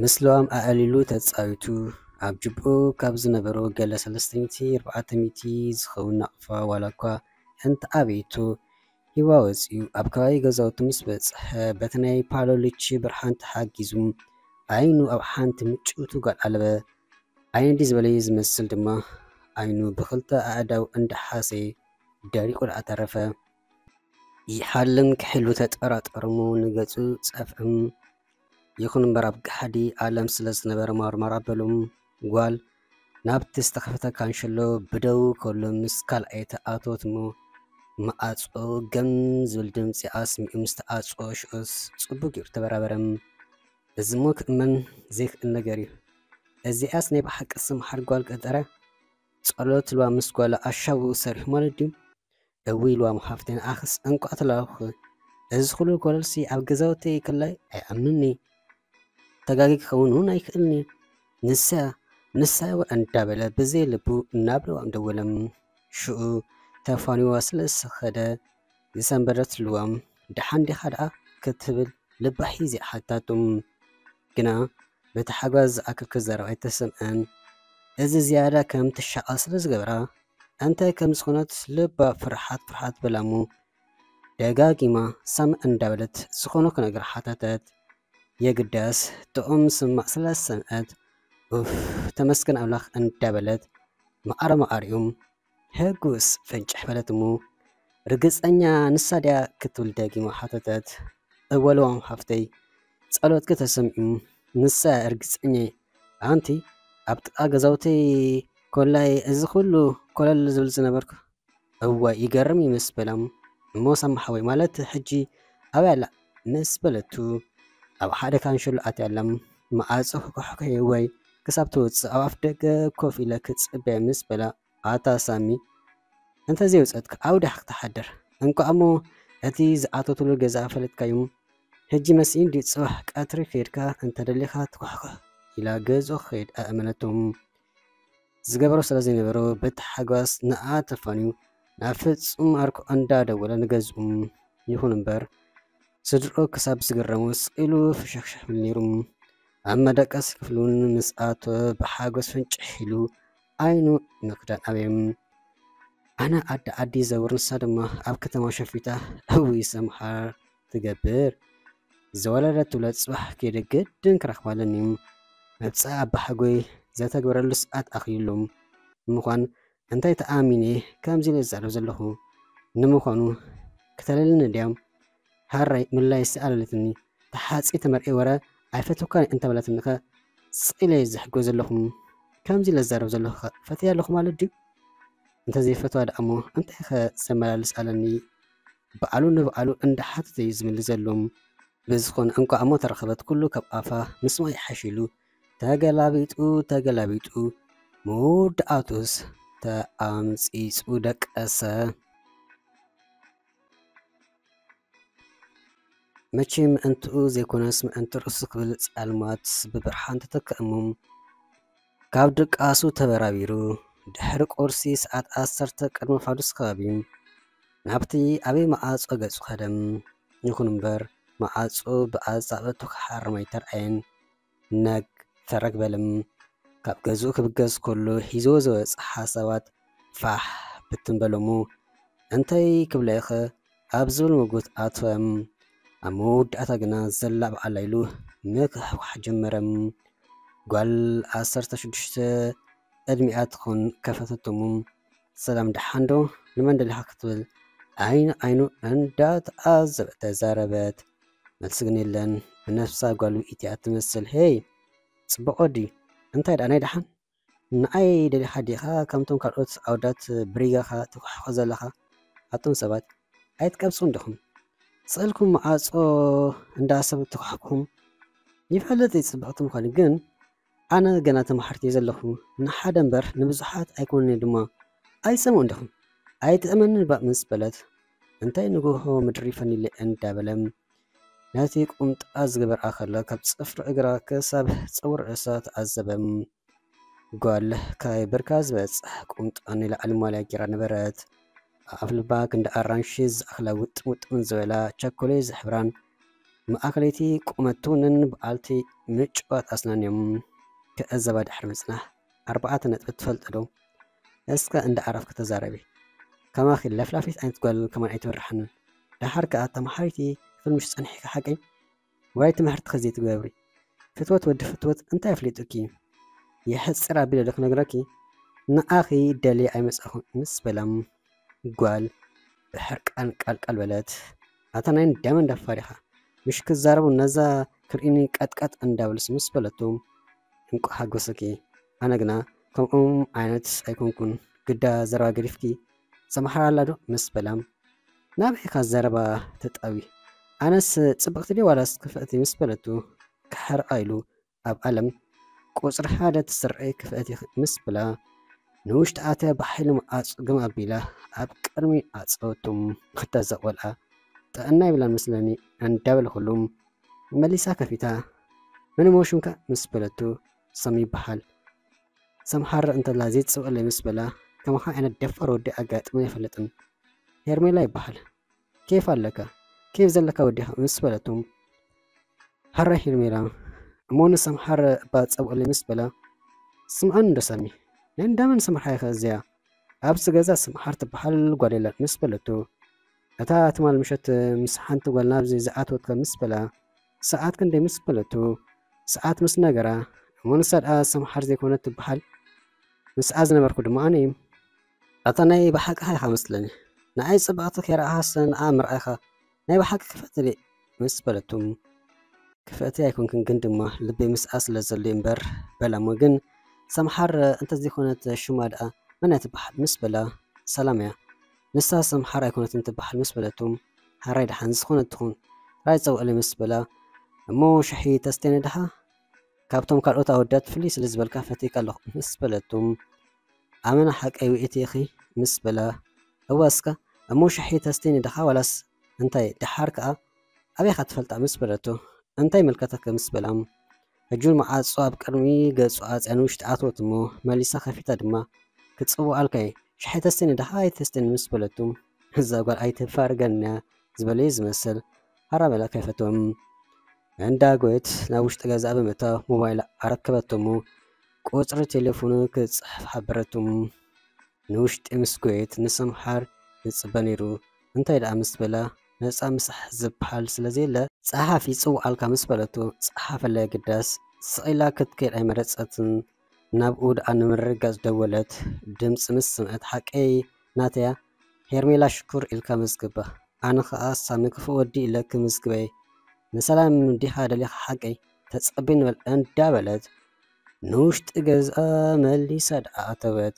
ምስሎም ኣዕሊሉ ተጻዊቱ ኣብ ጅብኡ ካብ ዝነበሩ ገለ ሰለስተይቲ ኣርባዕተ ሚእቲ ዝኸውን ናቕፋ ዋላ እኳ እንተኣበየቶ ሂዋ ወጺኡ ኣብ ከባቢ ገዛውቱ ምስ በጽሐ በቲ ናይ ፓሎሊቺ ብርሃን ተሓጊዙ ዓይኑ ኣብ ሓንቲ ምጭውቲ ጓል ኣለበ ኣይንዲ ዝበለዩ ዝመስል ድማ ኣይኑ ብኽልተ ኣእዳው እንዳሓሰየ ደሪቑ ደኣ ተረፈ። ይሓልም ክሕሉ ተጠራጠር'ሞ ንገጹ ጸፍዕም። ይኹን እምበር ኣብ ገሓዲ ኣለም ስለ ዝነበረ ማርማር ኣበሎም። ጓል ናብቲ ዝተኸፈተ ካንሸሎ ብደዉ ከሎ ምስ ካልኣይ ተኣትወት'ሞ መኣጾ ገም ዝብል ድምጺ ኣስሚዑ ምስ ተኣጽኦ ሽዑስ ጽቡቕ ጌሩ ተበራበረም። እዚሞ ክእመን ዘይክእል ነገር እዩ። እዚኣስ ናይ ብሓቂ ስምሓር ጓል ቀጠረ ጸሎት ኢልዋ ምስ ጓሉ ኣሻውኡ ሰሪሑ ማለት ድዩ እውይ ኢልዋሞ ሓፍተይ ንዓኽስ እንቋዕ ተላኣኹኺ እዚ ኩሉ ኮለልሲ ኣብ ገዛውተይ ክላይ ኣይኣምንኒ ተጋጊ ክኸውን እውን ኣይክእልኒ ንሳ ንሳይዋ እንዳበለ ብዘይ ልቡ ናብ ለዋም ደወለ ሽኡ ተፋኒዋ ስለ ዝኸደ ዝሰንበደትሉ'ዮም። ደሓን ዲኻ ደኣ ክትብል ልባ ሒዛ ሓተተቶ። ግና በቲ ሓጓ ዝኣክል ክዛረብ ኣይተሰምዐን። እዚ ዝያዳ ከም ትሻቐል ስለ ዝገበራ፣ እንታይ ከም ዝኾነት ልባ ፍርሓት ፍርሓት በላ'ሞ ደጋጊማ ሳምዕ እንዳበለት ዝኾነ ክነግራ ሓተተት። የግዳስ ጥዑም ምስማዕ ስለ ዝሰምዐት ኡፍ ተመስገን ኣምላኽ እንዳበለት መዓረመዓሪኦም ሕጉስ ፍንጭሕ በለት እሞ ርግጸኛ ንሳ ድያ ክትብል ደጊማ ሓተተት። እወ ልዋም ሓፍተይ፣ ጸሎትኪ ተሰሚዑ፣ ንሳ እያ ርግጸኛይ፣ ኣንቲ ኣብ ጥቓ ገዛውተይ ኮላይ እዚ ኩሉ ኮለል ዝብል ዝነበርኩ እዋይ ይገርም እዩ ምስ በላ እሞ ሳሚ ሓወይ ማለት ሕጂ ኣበይ ኣላ ምስ በለቱ ኣብ ሓደ ካንሸሎ ኣትያላ መኣጹ ክኳሕኲሕ ወይ ክሳብ ትወጽእ ኣብ ኣፍ ደገ ኮፍ ኢለ ክጽበ ምስ በላ ኣታ ሳሚ እንተ ዘይውጸትካ ኣብ ዳሕ ክትሓድር እንቋዕሞ እቲ ዝኣተትሉ ገዛ ፈለጥካዩ ሕጂ መስኢን ድዩ ጽባሕ ቀትሪ ከድካ እንተ ደሊኻ ትኳሕኲሕ ኢላ ገዝኡ ክኸይድ ኣእመነቶ። ዝገበሮ ስለ ዘይነበሮ በቲ ሓጓስ ንኣ ተፋንዩ ናብ ፍጹም ኣርኩ ኣንዳ ደወለ ንገዝኡ ይኹን እምበር ስድርኦ ክሳብ ዝግረሙ ስቅ ኢሉ ፍሽኽሽኽ ይብል ነይሩ። ኣብ መደቀሲ ክፍሉን ምስ ኣቶ ብሓጎስ ፍንጭሕ ኢሉ ኣይኑ ንክዳን ኣበየ ኣነ ኣደ ዓዲ ዘውር ንሳ ድማ ኣብ ከተማ ሸፊታ እውይ ሰምሃር ትገብር ዝወለደት ትውለድ ጽባሕ ከይደ ግድን ክረኽባለን እዩ መብጽኣ ኣባሓጎይ ዘተግብረሉ ሰዓት ኣኺሉ ንምዃን እንታይ ተኣሚነ ከምዚ ኢለ ዝዛረብ ዘለኹ ንምዃኑ ክተለልኒ ድያም ሃራይ ምላይ ስኣለለትኒ ተሓጺ ተመርዒ ወረ ኣይፈትውካን እንተበለትኒኸ ስኢለ ዝሕጎ ዘለኹም ከምዚ ኢለ ዝዛረብ ዘለኹ ፈትያ ኣለኹ ማለት ድዩ እንተዘይፈትዋ ደኣሞ እንታይኸ ዘመላልስ ኣለኒ ብኣሉ ንብኣሉ እንዳ ሓተተ እዩ ዝምልስ ዘሎ። ብዝኾነ እንቋዕሞ ተረኸበት ኩሉ ካብ ኣፋ ምስማዕ ይሓሽ ኢሉ ተገላቢጡ ተገላቢጡ መወዳኣቱስ ተኣምጺጹ ደቀሰ። መቸም ምእንትኡ ዘይኮነስ ምእንቲ ርእሱ ክብል ጸልማት ብብርሃን ተተክኣ እሞ፣ ካብ ድቃሱ ተበራቢሩ ድሕሪ ቁርሲ ሰዓት ዓሰርተ ቅድሚ ፋዱስ ከባቢ ናብቲ ዓብይ መዓጾ ገጹ ከደ። ይኹን እምበር መዓጹ ብኣጻብዕቱ ክሓርም ኣይተርኣየን። ነግ ፈረግ በለም። ካብ ገዝኡ ክብገስ ከሎ ሒዝዎ ዝወጸ ሓሳባት ፋሕ ብትን በሎሞ። እንታይ ክብሎ'የ'ኸ ኣብ ዝብል ምጉት ኣተወ። ኣብ መወዳእታ ግና ዘላብ ዓላ ኢሉ ምክሕኳሕ ጀመረ። ጓል ዓሰርተ ሽዱሽተ ዕድሚኣ ትኹን ከፈተቶ እሞ ሰላም ደሓንዶ ንመን ደሊኻ ክትብል ዓይኒ ንዓይኑ እንዳተዓዘበት ተዛረበት። መልሲ ግን የለን። ብነብሳ ጓሉ ኢቲኣ ትመስል። ሄይ ጽቡቕ ወዲ እንታይ ደኣ ናይ ደሓን? ንዓይ ደሊኻ ዲኻ ከምቶም ካልኦት ኣውዳት ብሪጋኻ ትኩሕኮ ዘለኻ ኣቱም ሰባት ኣይትቀብጹን ዲኹም ስእልኩም መዓጾ እንዳ ሰብ ትኩሕኩም ይፈልጥ ጽብቅቲ ምዃኑ ግን ኣነ ገና ተማሓርቲ እየ ዘለኹ ንሓደ እምበር ንብዙሓት ኣይኮነን ድማ ኣይሰምዑን ዲኹም ኣይትእመንን ባእ ምስ በለት እንታይ ንጉሆ ምድሪ ፈኒለ እንዳበለ ነቲ ቁምጣ ዝገበርኣ ከላ ካብ ጽፍሪ እግራ ክሳብ ጸጉሪ ርእሳ ተዓዘበ። ጓል ካይ ብርካ ዝበጽሕ ቁምጣ ንላዕሊ ማልያ ጌራ ነበረት። ኣብ ኣፍልባ ክንዲ ኣራንሺ ዝኣኽላ ውጥም ውጥም ዝበላ ቸኮሌ ዝሕብራን ማእከለይቲ ቁመት ትውንን በዓልቲ ምጩዋት ኣስናን'ዮም። ክዕዘባ ድሕሪ ምጽናሕ ኣርባዕተ ነጥቢ ትፈልጥ'ዶ? እስከ እንዳዕረፍኪ ተዛረቢ። ከማኺ ለፍላፊት ዓይነት ጓል ከማን ኣይተብርሓንን። ደሓር ከኣ ተመሓሪቲ ፍልምሽ ጸኒሕኪ ሓቀይ ዋይ ትምሕርትኪ ዘይትገብሪ ፍትወት ወዲ ፍትወት እንታይ ኣፍሊጡኪ የሕጽር ኣቢለ ዶ ክነግረኪ ንኣኺ ደልየ ኣይመጻኹን ምስ በላ ጓል ብሕርቃን ቃልቃል በለት ኣታ ናይ እንዳመ እንዳፋር ኢኻ ምሽ ክዛረቡ ነዛ ክርእኒ ቀጥቀጥ እንዳበልሲ ምስ በለቱ እንቋ ሓጎሰኪ ኣነ ግና ከምኦም ዓይነት ኣይኮንኩን ግዳ ዘረባ ገዲፍኪ ሰምሓር ኣላ ዶ ምስ በላ ናበይ ኢኻ ዘረባ ተጣቢ ኣነስ ጽብቕቲ ድየ ዋላስ ክፍእቲ ምስ በለቱ ክሓርቓ ኢሉ ኣብ ኣለም ቁጽሪ ሓደ ትስረይ ክፍእቲ ምስ በላ ንውሽጢ ኣትያ ብሓይሊ መዓጹ ግም ኣቢላ ኣብ ቅድሚ ኣጸወቱም ክታ ዘቆልኣ ጥዕና ይብላን መስለኒ እንዳበልኩሉ መሊሳ ከፊታ መን እሞ ሽምካ ምስ በለቱ ሰም ይበሃል ሰምሃር እንተላ ዘይትስብኣለይ ምስ በላ ከማኻ ዓይነት ደፋር ወዲ ኣጋጢሙ ኣይፈልጥን ሄርሜላ ይበሃል ኬፍ ኣለካ ኬፍ ዘለካ ወዲኻ ምስ በለቶ ሃራ ሄርሜላ እሞ ንሰምሃር እባ ጸብኦለይ ምስ በላ ስምዓን እንዶ ሰሚ ናይ እንዳመን ስምሓ ኢኸ እዚያ ኣብዚ ገዛ ስምሓር ትበሃል ጓል የለን ምስ በለቶ እታ ትማል ምሸት ምስ ሓንቲ ጓል ናብዚ ዝኣተወትካ ምስ በላ ሰዓት ክንደይ ምስ በለቶ ሰዓት ምስ ነገራ እሞ ንሳ ድኣ ሰምሓር ዘይኮነት ትበሃል ምስኣ ዝነበርኩ ድማ ኣነ እዩ። ኣታ ናይ ብሓቅኻ ኢኻ መስለኒ ንኣይ ጽብቕቲ ከይረኣኻ ስለ ንኣ ምርኣይካ ናይ ብሓቂ ክፍእቲ ድየ ምስ በለቶ ክፍእቲ ኣይኮንክን ግን ድማ ልበይ ምስኣ ስለ ዘሎ'ዩ እምበር በላ እሞ ግን ሰምሓር እንተዘይኮነት ሹማ ድኣ መን እያ ትበሃል ምስ በላ ሰላም እያ ንሳስ ኣምሓራ ኣይኮነትን ትበሃል ምስ በለቶ ሓራይ ደሓን ዝኾነት ትኹን ጥራይ ጸውዕለይ ምስ በላ እሞ ሽሒ ተስቴነ ደሃ ካብቶም ካልኦት ኣወዳት ፍልይ ስለ ዝበልካ ፈትየካ ኣለኹ ምስ በለቶ ኣመና ሓቀይ ውእቲ ኢኺ ምስ በላ እዋ እስካ እሞ ሽሒ ተስቴኒ ድኻ ዋላስ እንታይ ድሓር ከኣ ኣበይካ ትፈልጣ ምስ በለቶ እንታይ ይምልከተኪ ምስ በላ ሕጂውን መዓጹ ኣብ ቅድሚ ገጹ ኣጽያ ንውሽጢ ኣተወት እሞ መሊሳ ከፊታ ድማ ክትጽውዖ ኣልካይ ሻሂ ተስትኒ ድኻ ኣይተስትኒ ምስ በለቱ እዛ ጓል ኣይተፋርገንንያ ዝበለዮ ዝመስል ሃራ በላ ከፈቶም እንዳጎየት ናብ ውሽጢ ገዛኣ ብምእታው ሞባይላ ኣረከበቶሞ ቁጽሪ ቴሌፎኑ ክትጽሕፍ ሓበረቱ ንውሽጢ ምስ ጎየት ንሰምሓር ይጽበ ነይሩ እንታይ ደኣ ምስ በላ ነጻ ምስሓ ዝብሃል ስለ ዘየለ፣ ጸሓፍ ይጽውዓልካ ምስ በለቶ ጸሓፈላ የግዳስ ስቕ ኢላ ክትከይድ ኣይመረጸትን፣ ናብኡ ደኣ ንምርግጋጽ ደወለት፣ ድምጺ ምስ ሰምዐት ሓቀይ ናተያ፣ ሄርሜላ ሽኩር ኢልካ መዝግባ፣ ኣነ ከኣ ሳሚ ክፉእ ወዲ ኢለ ክምዝግበይ፣ ንሰላም ዲኻ ደሊኻ ሓቀይ፣ ተጸበይ ንበል እንዳ በለት ንውሽጢ ገዝኣ መሊሳ ደኣ ኣተወት።